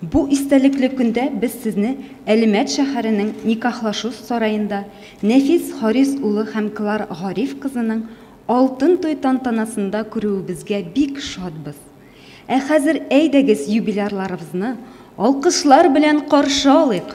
Бу истәлекле көндә без сезне Әлмәт шәһәренең Никахлашу сараенда Нәфис Харис улы һәм Клар Гариф кызының Алтын туй тантанасында күрүебезгә бик шатбыз. Ә хәзер әйдәгез юбилярларыбызны алкышлар белән каршы алыйк!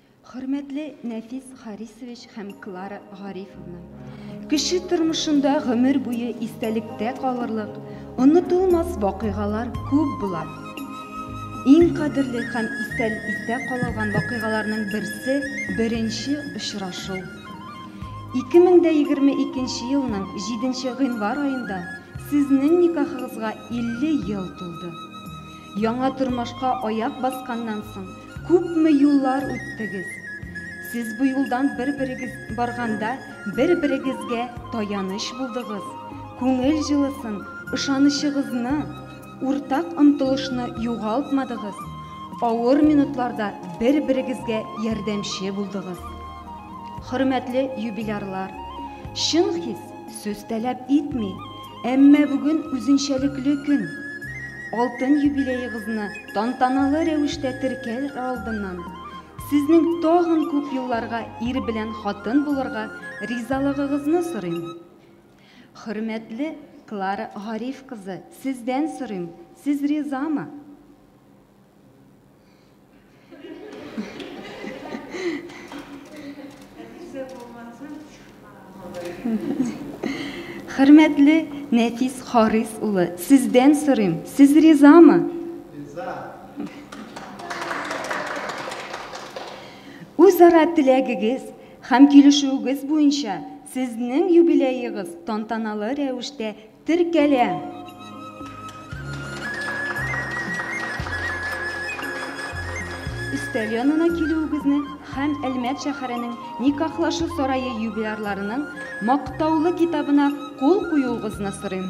Хөрмәтле Нәфис Харисович һәм Клара Гарифовна! Кеше тормышында гомер буе истәлектә калырлык, онытылмас вакыйгалар күп була. Иң кадерле һәм истәл истә калылган вакыйгаларның берсе беренче очрашу. 2022 елның 7 гыйнвар аенда сезнең никахыгызга 50 ел тулды. Яңа тормышка аяк басканнан соң Күпме юллар үттегез. Сез бу юлдан бер-берегез барганда, бер-берегезгә таяныч булдыгыз, күңел җылысын, ышанычыгызны, уртак омтылышны югалтмадыгыз, авыр минутларда бер-берегезгә ярдәмче булдыгыз. Хөрмәтле юбилярлар, чын хис сүз таләп итми. Әмма бүген үзенчәлекле көн. Алтын юбилеегызны тантаналы рәвештә теркәр алдыннан, сезнең тагын күп елларга ир белән хатын булырга ризалыгыгызны сорыйм. Хөрмәтле Клара Гариф кызы, сездән сорыйм, сез ризамы? Хөрмәтле Нәфис Харис улы, сездән сорыйм, сез ризамы? Риза. Үзара теләгегез һәм килешүегез буенча сезнең юбилеегыз тантаналы рәвештә Теркәлә. Өстәл янына килүегезне һәм Әлмәт шәһәренең Никахлашу сарае юбилярларының Мактаулы китабына кул куюыгызны сорыйм.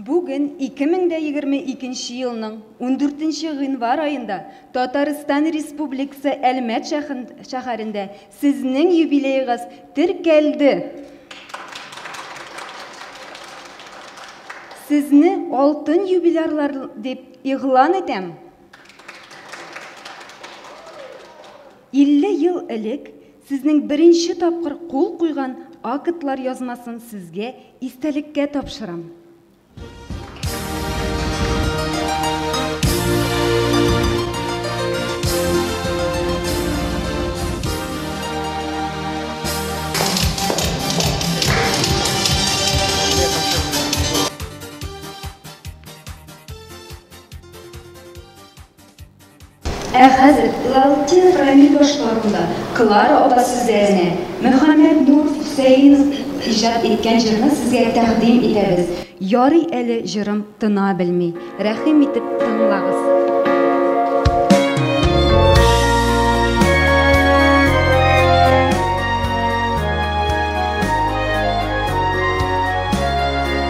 Бүген 2022 елның 14 гыйнвар аенда Татарстан Республикасы Әлмәт шәһәрендә сезнең юбилеегыз теркәлде. Сезне алтын юбилярлар дип Игълан итәм, 50 ел элек сезнең беренче тапкыр кул куйган актлар язмасын сезгә истәлеккә тапшырам. Ә хәзер Лаутин Рамил башкаруында Клара апа сүзләренә Мөхәммәт Нур Хөсәенов иҗат иткән җырны сезгә тәкъдим итәбез. Ярый әле җырым тына белми. Рәхим итеп тыңлагыз.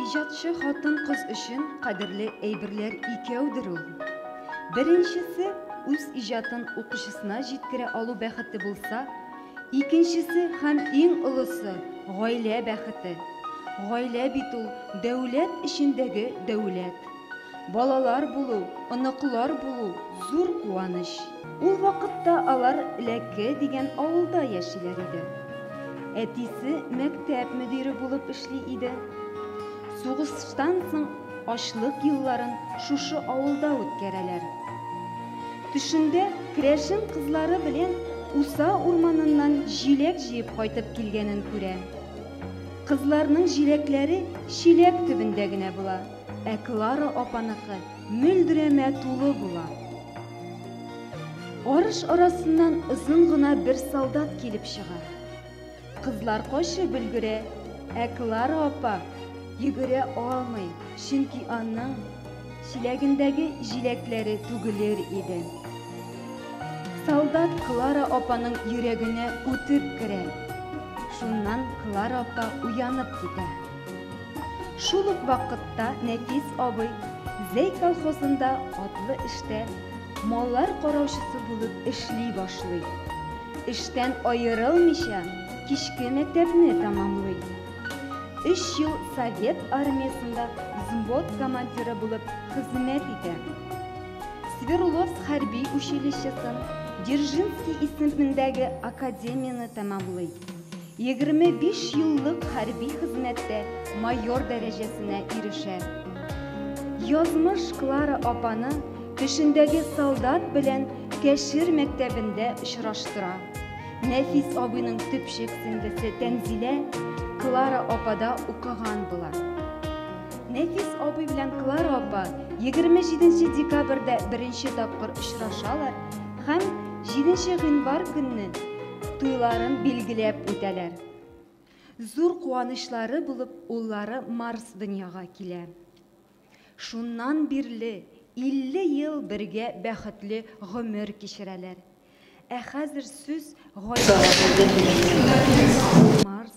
Иҗатчы хатын-кыз өчен кадерле әйберләр икәүдер ул. Беренчесе үз иҗатын укучысына җиткерә алу бәхете булса, икенчесе һәм иң олысы гаилә бәхете. Гаилә бит ул дәүләт эчендәге дәүләт. Балалар булу, оныклар булу, зур куаныч. Ул вакытта алар Ләке дигән авылда яшиләр иде. Әтисе мәктәп мөдире булып эшли иде. Сугыштан соң ачлык елларын шушы авылда үткәрәләр. Төшендә керәшен кызлары белән Уса урманыннан җиләк җыеп кайтып килгәнен күрә. Кызларның җиләкләре чиләк төбендә генә була. Ә Клара апаныкы мөлдерәмә тулы була. Арыш арасыннан озын гына бер солдат килеп чыга. Кызлар качып өлгерә, ә Клара апа йөгерә алмый, чөнки аның чиләгендәге җиләкләре түгелер иде. Солдат Клара апаның йөрәгенә үтеп керә. Шуннан Клара апа уянып китә. Шул ук вакытта Нәфис абый Зәй колхозында атлы эштә маллар караучысы булып эшли башлый. Эштән аерылмыйча, кичке мәктәпне тәмамлый. Өч ел совет армиясендә взвод командиры булып хезмәт итә. Свердловск хәрби училищесын, Дзержинский исемендәге академияне тәмамлый. 25 еллык хәрби хезмәттә майор дәрәҗәсенә ирешә. Язмыш Клара апаны төшендәге солдат белән Кәшир мәктәбендә очраштыра. Нәфис абыйның төпчек сеңлесе Тәнзилә Клара апада укыган була. Нәфис абый белән Клара апа 27 декабрьдә беренче тапкыр очрашалар һәм 7 гыйнвар көнне туйларын билгеләп үтәләр. Зур куанычлары булып уллары Марс дөньяга килә. Шуннан бирле 50 ел бергә бәхетле гомер кичерәләр. Ә хәзер сүз гаилә Марс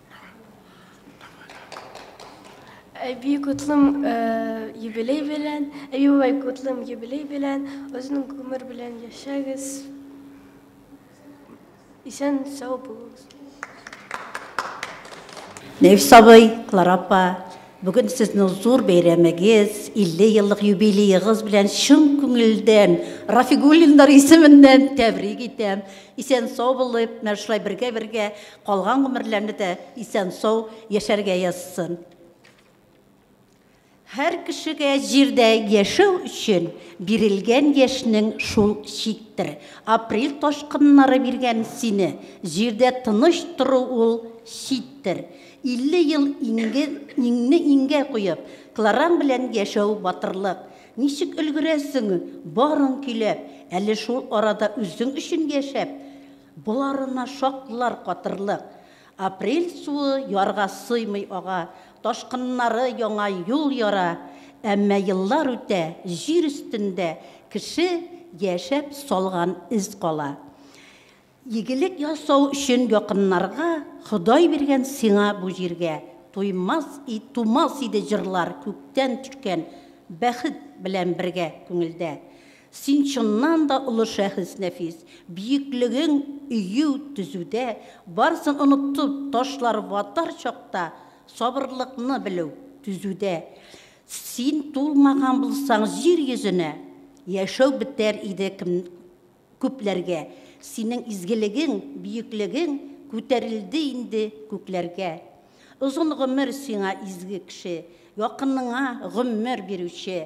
Әби Кутлым э, юбилей белән, Әби бабай Кутлым юбилей белән, озын гомер белән яшәгез. Исән сау булыгыз. Нәфис абый, Клара апа, бүген сезнең зур бәйрәмегез, 50 еллык юбилеегыз белән чын күңелдән Рафигуллиннар исеменнән тәбрик итәм. Исән сау булып, менә шулай бергә-бергә Калган гомерләрне дә исән-сау яшәргә язсын. Һәр кешегә җирдә яшәү өчен бирелгән яшьнең шул чиктер. Апрель ташкыннары биргән сине, җирдә тыныч тору ул читтер. 50 ел иңне иңгә куеп, Клараң белән яшәү батырлык. Ничек өлгерәсең барын көйләп, әле шул арада үзең өчен яшәп, Боларына шактлар катырлык. Апрель суы ярга сыймый ага, ташкыннары яңа юл яра. Әмма еллар үтә, җир өстендә кеше яшәп салган эз кала. Игелек ясау өчен якыннарга, Ходай биргән сиңа бу җиргә, Туймас и тумас иде җырлар күктән төшкән бәхет белән бергә күңелдә. Син чыннан да олы шәхес, Нәфис. Биеклегең, өю, төзүдә, барсын онытып ташлар ватар чакта сабырлыкны белү, түзүдә. Син тулмаган булсаң җир йөзенә, яшәү бетәр иде кем күпләргә. Синең изгелегең, биеклегең күтәрелде инде күкләргә. Озын гомер сиңа, изге кеше, якыныңа гомер бирүче,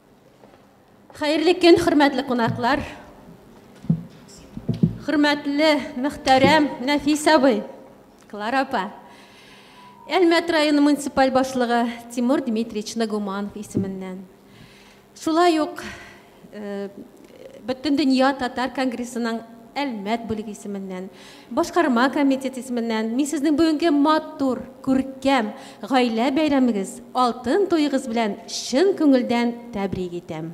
Хәерле көн, хөрмәтле кунаклар. Хөрмәтле, мөхтәрәм Нәфис абый, Клара апа. Әлмәт районы муниципаль башлыгы Тимур Дмитриевич Нагуманов исеменнән. Шулай ук э, Бөтендөнья татар конгрессының Әлмәт бүлеге исеменнән, башкарма комитет исеменнән мин сезнең бүгенге матур, күркәм гаилә бәйрәмегез, алтын туегыз белән чын күңелдән тәбрик итәм.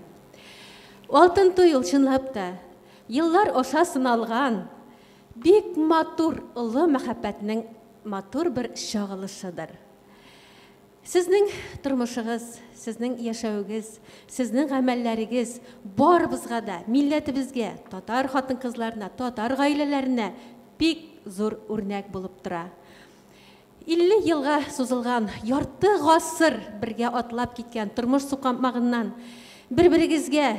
Алтын туй ул чынлап та еллар аша сыналган, бик матур, олы мәхәббәтнең матур бер чагылышыдыр. Сезнең тормышыгыз, сезнең яшәвегез, сезнең гамәлләрегез барыбызга да, милләтебезгә, татар хатын-кызларына, татар гаиләләренә бик зур үрнәк булып тора. 50 елга сузылган, ярты гасыр бергә атлап киткән тормыш сукмагыннан бер-берегезгә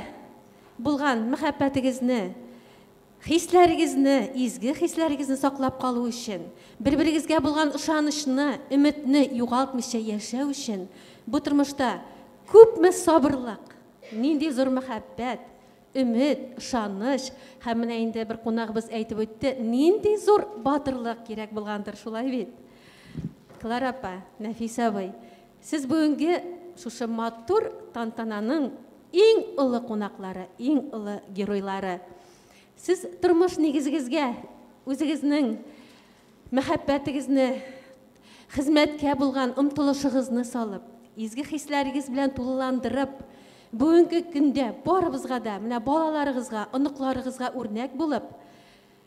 булган мәхәббәтегезне Хисләрегезне, изге хисләрегезне саклап калу өчен, бер-берегезгә булган ышанычны, өметне югалтмыйча яшәү өчен, бу тормышта күпме сабырлык, нинди зур мәхәббәт, өмет, ышаныч һәм менә инде бер кунагыбыз әйтеп үтте, нинди зур батырлык кирәк булгандыр, шулай бит? Клара апа, Нәфис абый, Сез бүгенге шушы матур тантананың иң олы кунаклары, иң олы геройлары. Сез тормыш нигезегезгә, үзегезнең мәхәббәтегезне, хезмәткә булган омтылышыгызны салып, изге хисләрегез белән тулыландырып, бүгенге көндә барыбызга да, менә балаларыгызга, оныкларыгызга үрнәк булып,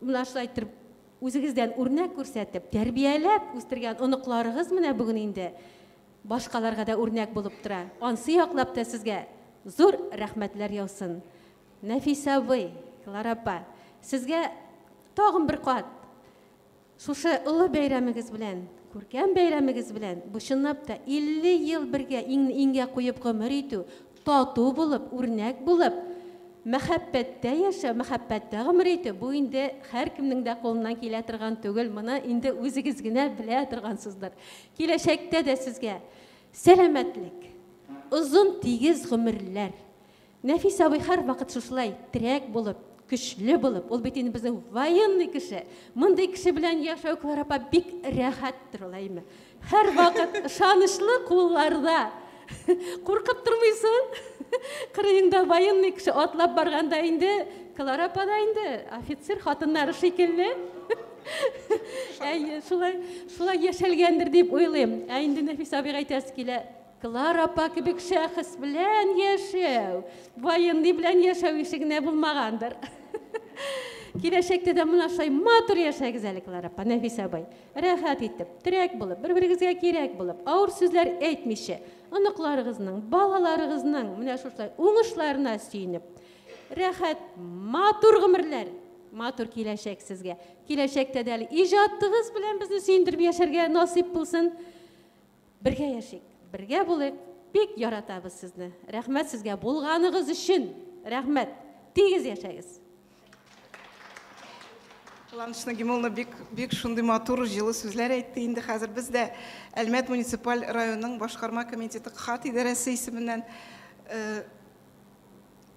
Менә шулай итеп, үзегездән үрнәк күрсәтеп, тәрбияләп үстергән оныкларыгыз менә бүген инде башкаларга да үрнәк булып тора. Ансы яклап та сезгә зур рәхмәтләр яусын. Нәфисә абый, Клара апа, сезгә тагын бер кат шушы олы бәйрәмегез белән, күркәм бәйрәмегез белән, бу чынлап та 50 ел бергә иңне-иңгә куеп гомер итү, Тату булып, үрнәк булып, мәхәббәттә яшәү, мәхәббәттә гомер итү, бу инде һәркемнең дә кулыннан килә торган түгел, моны инде үзегез генә белә торгансыздыр. Киләчәктә дә сезгә сәламәтлек, озын тигез гомерләр. Нәфис абый һәрвакыт шушылай терәк булып, көчле булып, ул бит инде безнең военный кеше, мондый кеше белән яшәү, Клара апа, бик рәхәттер ул, әйеме? Һәрвакыт ышанычлы кулларда. Куркып тормыйсың? Кырыеңда военный кеше атлап барганда инде Клара апа да инде офицер хатыннары шикелле. Әйе, шулай, шулай яшәлгәндер дип уйлыйм. Ә инде Нәфис абыйга әйтәсе килә, Клара апа кебек шәхес белән яшәү, военный белән яшәү ише генә булмагандыр. Киләчәктә дә менә шулай матур яшәгез әле, Клара апа, Нәфис абый. Рәхәт итеп, терәк булып, бер-берегезгә кирәк булып, авыр сүзләр әйтмичә, оныкларыгызның, балаларыгызның менә шушылай уңышларына сөенеп, рәхәт, матур гомерләр, матур киләчәк сезгә. Киләчәктә дә әле иҗатыгыз белән безне сөендереп яшәргә насыйп булсын. Бергә яшик, бергә булыйк, бик яратабыз сезне. Рәхмәт сезгә булганыгыз өчен. Рәхмәт. Тигез яшәгез. Кыланыч Нагимулловна бик бик шундый матур җылы сүзләр әйтте. Инде хәзер без дә Әлмәт муниципаль районының башкарма комитеты КХАТ идарәсе исеменнән э,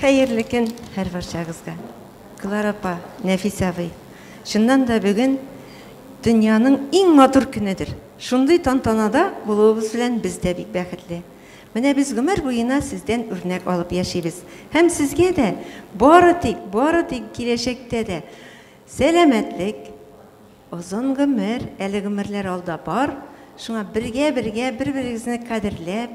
Хәерле көн һәрварчагызга! Клара апа, Нәфис абый! Чыннан да бүген дөньяның иң матур көнедер. Шундый тантанада булуыбыз белән без дә бик бәхетле. Менә без гомер буена сездән үрнәк алып яшибез. Һәм сезгә дә бары тик, бары тик киләчәктә дә сәламәтлек, озын гомер, әле гомерләр алда бар, шуңа бергә-бергә бер-берегезне кадерләп,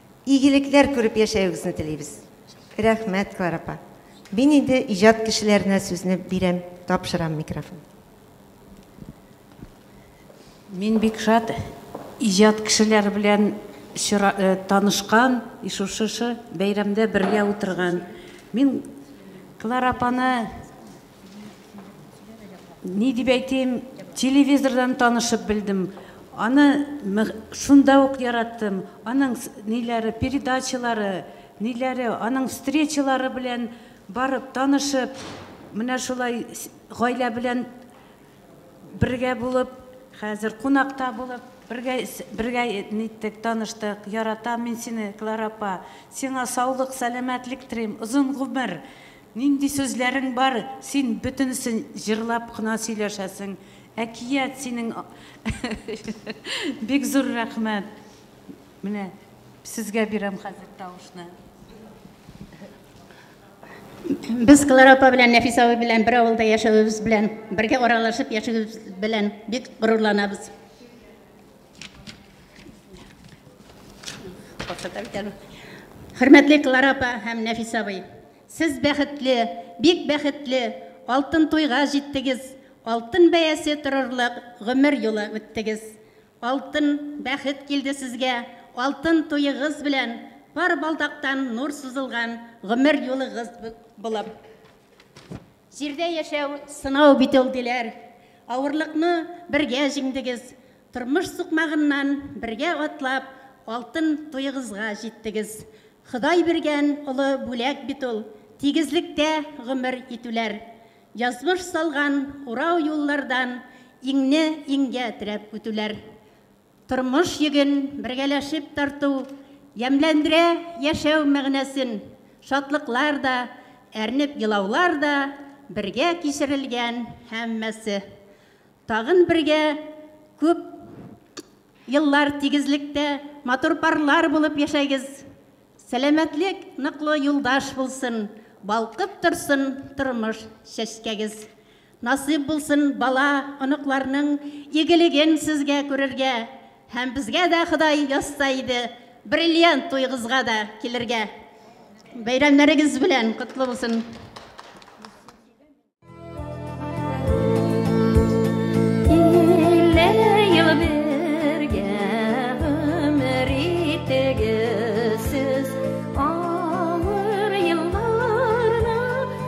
Игелекләр күреп яшәюгезне телибез. Рәхмәт, Клара апа. Мин инде иҗат кешеләренә сүзне бирәм, тапшырам микрофон. Мин бик шат иҗат кешеләре белән танышкан, и шушы бәйрәмдә бергә утырган. Мин Клара апаны Ни дип әйтим, телевизордан танышып белдем. Аны шунда ук яраттым. Аның ниләре, передачалары, ниләре, аның встречалары белән барып танышып, менә шулай гаилә белән бергә булып, хәзер кунакта булып, бергә бергә ниттек, таныштык. Яратам мин сине, Клара апа. Сиңа саулык, сәламәтлек телим, озын гомер. Нинди сүзләрең бар, син бөтенесен җырлап кына сөйләшәсең, әкият синең Бик зур рәхмәт. Менә сезгә бирәм хәзер тавышны. Без Клара апа белән Нәфис абый белән бер авылда яшәвебез белән, бергә аралашып яшәвебез белән бик горурланабыз. Хөрмәтле Клара апа һәм Нәфис абый, сез бәхетле, бик бәхетле, алтын туйга җиттегез, алтын бәясе торырлык гомер юлы үттегез. Алтын бәхет килде сезгә, алтын туегыз белән пар балдактан нур сузылган гомер юлыгыз булып. Җирдә яшәү сынау бит ул, диләр. Авырлыкны бергә җиңдегез, тормыш сукмагыннан бергә атлап, алтын туегызга җиттегез. Ходай биргән олы бүләк бит ул, тигезлектә гомер итүләр. Язмыш салган урау юллардан иңне-иңгә терәп үтүләр. Тормыш йөген бергәләшеп тарту ямьләндерә Яшәү мәгънәсен шатлыклар да, әрнеп елаулар да, бергә кичерелгән һәммәсе Тагын бергә күп еллар тигезлектә Матур парлар булып яшәгез Сәламәтлек ныклы юлдаш булсын Балкып торсын тормыш чәчкәгез Насыйп булсын бала, оныкларның игелеген сезгә күрергә һәм безгә дә Ходай язса иде, бриллиант туегызга да килергә. Бәйрәмнәрегез белән котлы булсын!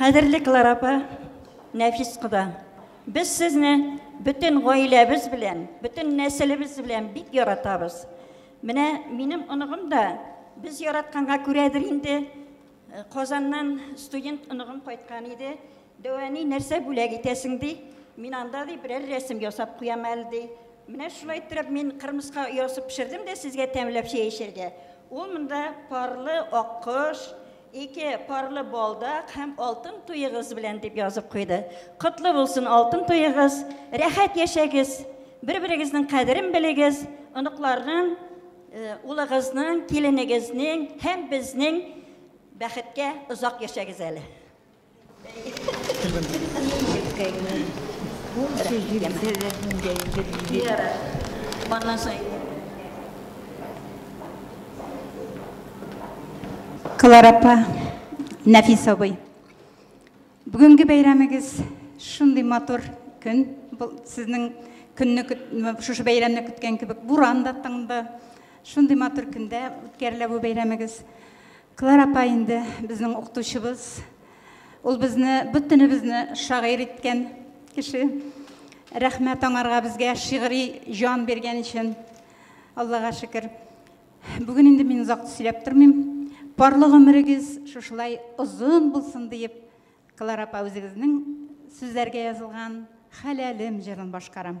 Кадерле Клара апа, Нәфис куда, без сезне бөтен гаиләбез белән, бөтен нәселебез белән бик яратабыз. Менә минем оныгым да без яратканга күрәдер инде э, Казаннан студент оныгым кайткан иде. Дәү әни, нәрсә бүләк итәсең, ди. Мин анда, ди, берәр рәсем ясап куям әле, ди. Менә шулай иттереп мин кырмыска оясы пешердем дә сезгә тәмләп чәй эчәргә. Ул монда парлы аккош, ике парлы балдак һәм алтын туегыз белән, дип язып куйды. Котлы булсын алтын туегыз, рәхәт яшәгез, бер-берегезнең кадерен белегез, оныкларның, улыгызның, киленегезнең һәм безнең бәхеткә озак яшәгез әле. Клара апа, Нәфис абый. Бүгенге бәйрәмегез шундый матур көн. Бұл сезнең көнне шушы бәйрәмне көткән кебек буран да тыңды. Шундый матур көндә үткәрелә бу бәйрәмегез. Клара апа инде безнең укытучыбыз. Ул безне бөтенебезне шагыйрь иткән кеше. Рәхмәт аңарга безгә шигъри җан биргән өчен. Аллага шөкер. Бүген инде мин озак сөйләп тормыйм. Парлы гомерегез шушылай озын булсын диеп, Клара апа үзегезнең сүзләргә язылган Хәләлем җырын башкарам.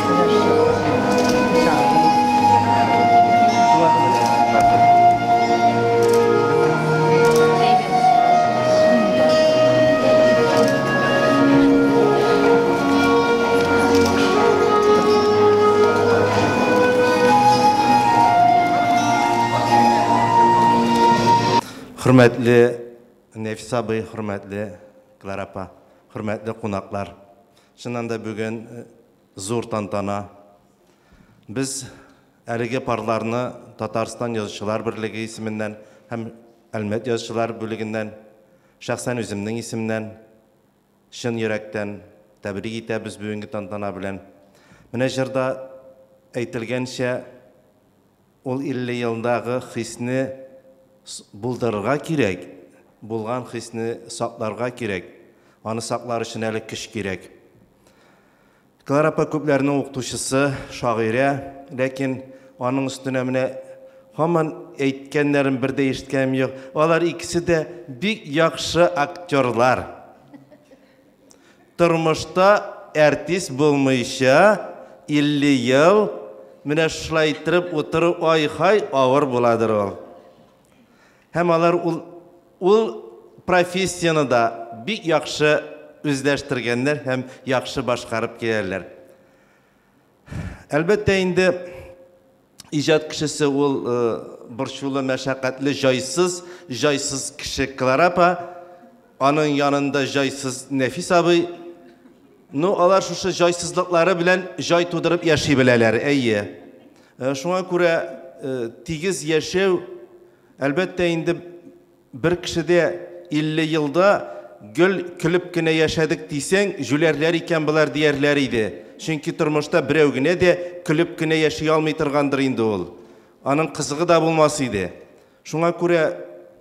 Хөрмәтле Нәфис абый, хөрмәтле Клара апа, хөрмәтле кунаклар. Чыннан да бүген зур тантана. Без әлеге парларны Татарстан Язучылар берлеге исеменнән һәм Әлмәт язучылар бүлегеннән, шәхсән үземнең исемнән чын йөрәктән тәбрик итәбез бүгенге тантана белән. Менә җырда әйтелгәнчә, Ул илле елдагы хисне булдырырга кирәк, булган хисне сакларга кирәк. Аны саклар өчен әле көч кирәк. Клара апа күпләрнең укытучысы, шагыйрә, ләкин аның өстенә менә һаман әйткәннәрен бер дә ишеткәнем юк. Алар икесе дә бик яхшы актерлар. Тормышта әртис булмыйча 50 ел менә шулай иттереп утыру ай-һай авыр буладыр ул. Һәм алар ул ул профессияне дә бик яхшы үзләштергәннәр һәм яхшы башкарып киләләр. Әлбәттә инде иҗат кешесе ул борчулы, мәшәкатьле, җайсыз, җайсыз кеше Клара апа, аның янында җайсыз Нәфис абый. Ну, алар шушы җайсызлыклары белән җай тудырып яши беләләр, әйе. Шуңа күрә тигез яшәү, әлбәттә инде, Бер кешедә 50 елда гел көлеп кенә яшәдек дисәң, җүләрләр икән болар диярләр иде. Чөнки тормышта берәү генә дә көлеп кенә яши алмый торгандыр инде ул. Аның кызыгы да булмас иде. Шуңа күрә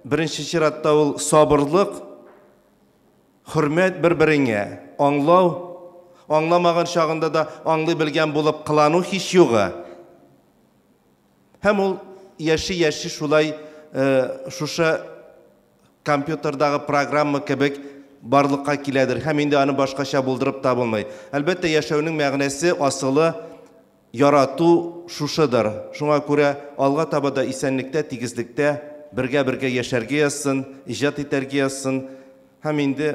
беренче чиратта ул сабырлык, хөрмәт бер-береңә, аңлау, аңламаган чагында да аңлый белгән булып кылану һичьюгы. Һәм ул яши-яши шулай шушы компьютердагы программа кебек барлыкка киләдер һәм инде аны башкача булдырып та булмый. Әлбәттә, яшәүнең мәгънәсе, асылы, ярату шушыдыр. Шуңа күрә алга таба да исәнлектә, тигезлектә бергә-бергә яшәргә язсын, иҗат итәргә язсын һәм инде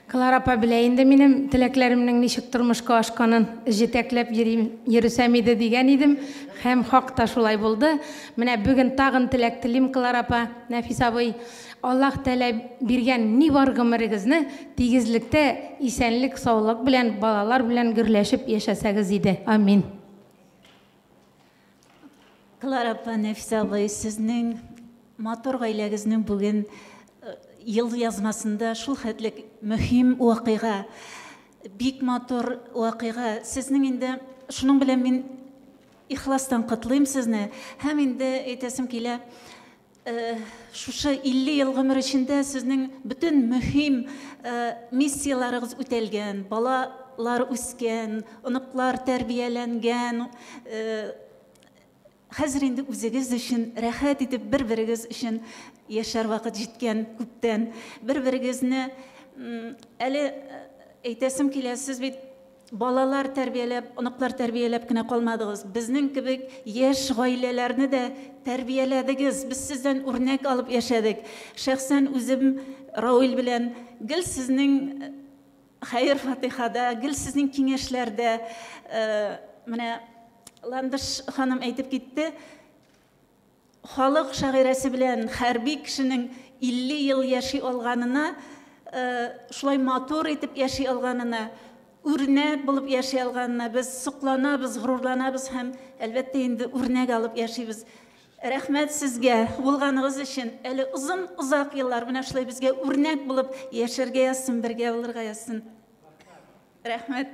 Клара апа белә инде минем теләкләремнең ничек тормышка ашканын. Җитәкләп йөрим, йөрсәм иде, дигән идем. Һәм хак та шулай булды. Менә бүген тагын теләк телим, Клара апа, Нәфис абый, Аллаһ Тәгалә биргән ни бар гомерегезне тигезлектә, исәнлек-саулык белән, балалар белән гөрләшеп яшәсәгез иде. Амин. Клара апа, Нәфисә абый, сезнең матур гаиләгезнең бүген э, ел язмасында шул хәтле мөһим вакыйга, бик матур вакыйга. Сезнең инде шуның белән мин ихластан котлыйм сезне һәм инде әйтәсем килә, Шушы 50 ел гомер эчендә сезнең бөтен мөһим миссияләрегез үтәлгән, балалар үскән, оныклар тәрбияләнгән. Хәзер инде үзегез өчен рәхәт итеп бер-берегез өчен яшәр вакыт җиткән күптән. Бер-берегезне әле әйтәсем килә, сез бит Балалар тәрбияләп, оныклар тәрбияләп кенә калмадыгыз, безнең кебек яшь гаиләләрне дә тәрбияләдегез, без сездән үрнәк алып яшәдек. Шәхсән үзем Рауил белән гел сезнең хәер-фатыйхада, гел сезнең киңәшләрдә, менә Ландыш ханым әйтеп китте, Халык шагыйрәсе белән хәрби кешенең 50 ел яши алганына, шулай матур итеп яши алганына, үрнәк булып яши алганына без сокланабыз, горурланабыз һәм, әлбәттә инде, үрнәк алып яшибез. Рәхмәт сезгә булганыгыз өчен. Әле озын, озак еллар менә шулай безгә үрнәк булып яшәргә язсын, бергә булырга язсын. Рәхмәт.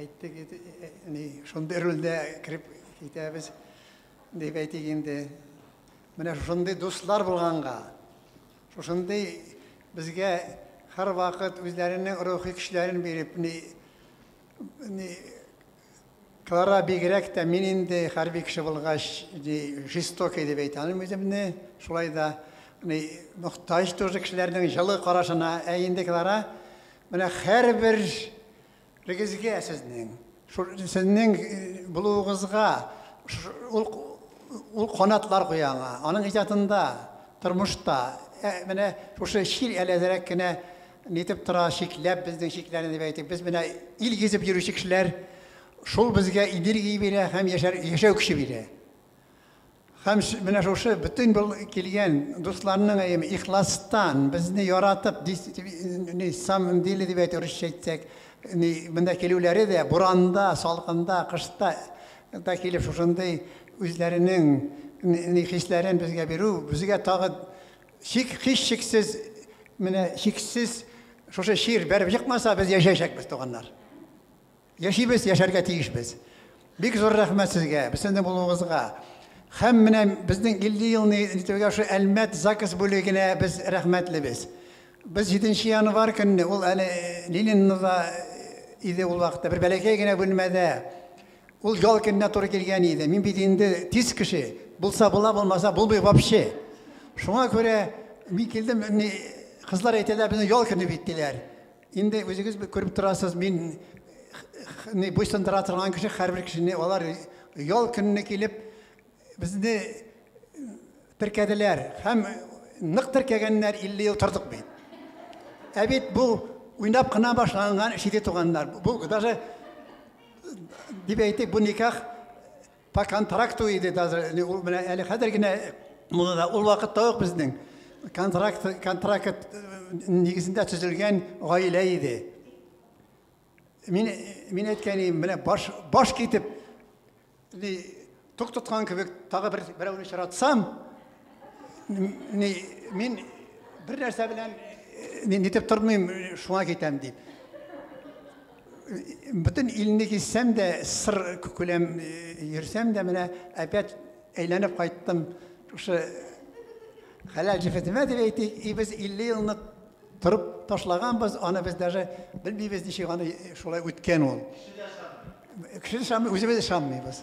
Әйтик, ни, шундый рольдә кереп китәбез, дип әйтик инде. Менә шундый дуслар булганга, шушындый безгә һәр вакыт үзләренең рухи көчләрен биреп, ни, ни, Клара бигрәк тә мин инде хәрби кеше булгач, жестокий дип әйтә алмыйм үземне. Шулай да мохтаҗ тоже кешеләрнең җылы карашына. Ә инде Клара менә һәрбер Регезгә сезнең, шул сезнең булуыгызга ул ул канатлар куя аңа. Аның иҗатында, тормышта, ә, менә шушы чир әләзрәк кенә нитеп тора, чикләп безнең чикләрне дип әйтик. Без менә ил гизеп йөрүче кешеләр, шул безгә энергия бирә һәм яшәр, яшәү көче бирә. Һәм менә шушы бөтен бул килгән дусларның әйеме ихластан безне яратып ни самом деле дип әйтә русча әйтсәк, ни монда килүләре дә буранда, салкында, кышта да килеп шушындый үзләренең ни хисләрен безгә бирү, безгә тагы чик хисчексез менә чиксез шушы чир бәреп чыкмаса без яшәячәкбез туганнар. Яшибез, яшәргә тиешбез. Бик зур рәхмәт сезгә, безсендә булуыгызга. Һәм менә безнең 50 елны итүгә шул Әлмәт ЗАГС бүлегенә без рәхмәтлебез. Без 7 нче январь көнне, ул әле э, Ленинныда э, иде ул вакытта, бер бәләкәй генә бүлмәдә. Ул ял көненә туры килгән иде. Мин бит инде тиз кеше, булса була, булмаса булмый вообще. Шуңа күрә мин килдем, кызлар әйтәләр, безнең ял көне бит диләр. Инде үзегез күреп торасыз, мин не буйсындыра торган кеше һәрбер кешене алар ял көнне килеп безне теркәделәр һәм нык теркәгәннәр 50 ел тордык бит. Ә бит бу уйнап кына башланган шиде туганнар. Бу даже дип әйтик, бу никах По контракту иде даже, ул менә әле хәзер генә модада, ул вакытта ук безнең контракт, контракт нигезендә төзелгән гаилә иде. Мин, мин әйткән идем, менә баш, баш китеп, тук тоткан кебек, тагы бер, берәүне очратсам, Мин бер нәрсә белән мин нитеп тормыйм, шуңа китәм дип. Бөтен илне киссәм дә, сыр күләм йөрсәм дә, менә опять әйләнеп кайттым. Шушы хәләл җефетемә дип әйтик, и без 50 елны торып ташлаганбыз, аны без даже белмибез, ничек аны шулай үткән ул. Кеше дә шамый. Кеше дә шамый, үзебез дә шамыйбыз.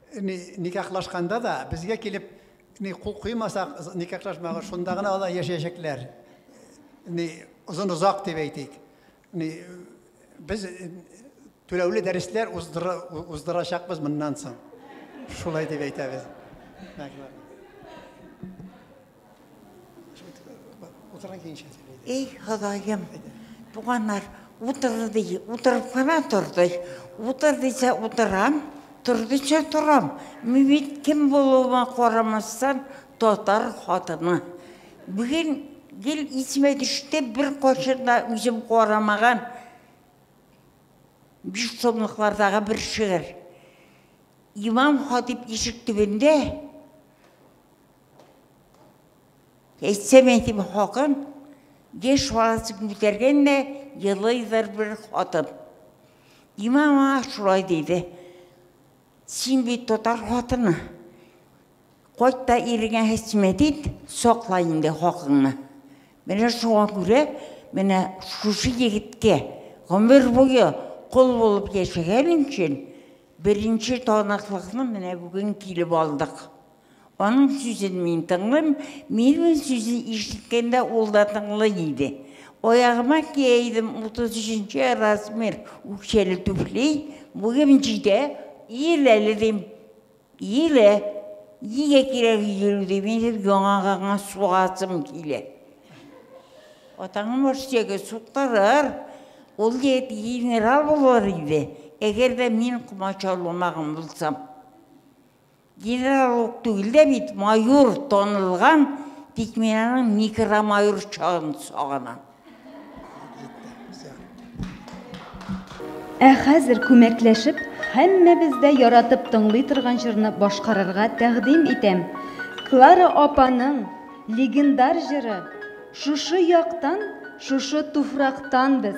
Ни, никахлашканда да безгә килеп, ни кул куймасак, никахлашмага шунда гына алар яшәячәкләр. Ни озын озак дип әйтик. Ни без түләүле дәресләр уздыра, уздырачакбыз моннан соң. Шулай дип әйтәбез. Эй, Ходаем, туганнар, утыр ди, утырып кына тор ди. Утыр дисә утырам, тор дисә торам. Мин бит кем булуыма карамастан татар хатыны. Бүген гел исемә төште, бер кашын да үзем карамаган биш томлыклардагы бер шигырь. Имам хатип ишек төбендә Әйтсәм әйтим хакын, геш валасы күтәргән дә елыйдыр бер хатын. Имә маңа шулай дейді. Син бит татар хатыны. Кайт та иреңә хәсмәт ит, сакла инде хакыңны. Менә шуңа күрә, менә шушы егеткә гомер буе кол булып яшәгән өчен беренче таныклыкны менә бүген килеп алдык. Аның сүзен мин тыңлыйм, минем сүзен ишеткәндә ул да тыңлый иде. Аягыма кия идем 33 размер үкчәле түфли, буем җитә, иел әле дим. Иелә. Нигә кирәк иелү ди, минем яңа гына сугасым килә. Атаңны Марсиягә суктырыр, ул егет генерал булыр иде, әгәр дә мин комачауламаган булсам. Генерал ук түгел дә бит, майор танылган, тик мин аның микромайор чагын сагынам. Ә хәзер күмәкләшеп, һәммәбез дә яратып тыңлый торган җырны башкарырга тәкъдим итәм. Клара апаның легендар җыры Шушы яктан, шушы туфрактан без.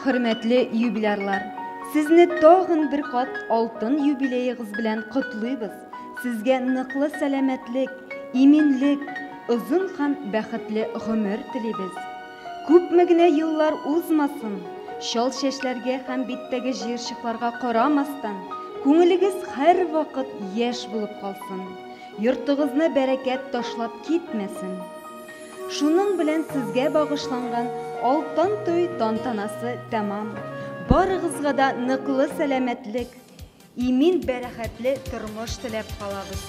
Хөрмәтле юбилярлар, сезне тагын бер кат алтын юбилеегыз белән котлыйбыз. Сезгә ныклы сәламәтлек, иминлек, озын һәм бәхетле гомер телибез. Күпме генә еллар узмасын, чал чәчләргә һәм биттәге җыерчыкларга карамастан, күңелегез һәрвакыт яшь булып калсын. Йортыгызны бәрәкәт ташлап китмәсен. Шуның белән сезгә багышланган Алтын туй тантанасы тәмам. Барыгызга да ныклы сәламәтлек, имин бәрәхәтле тормыш теләп калабыз.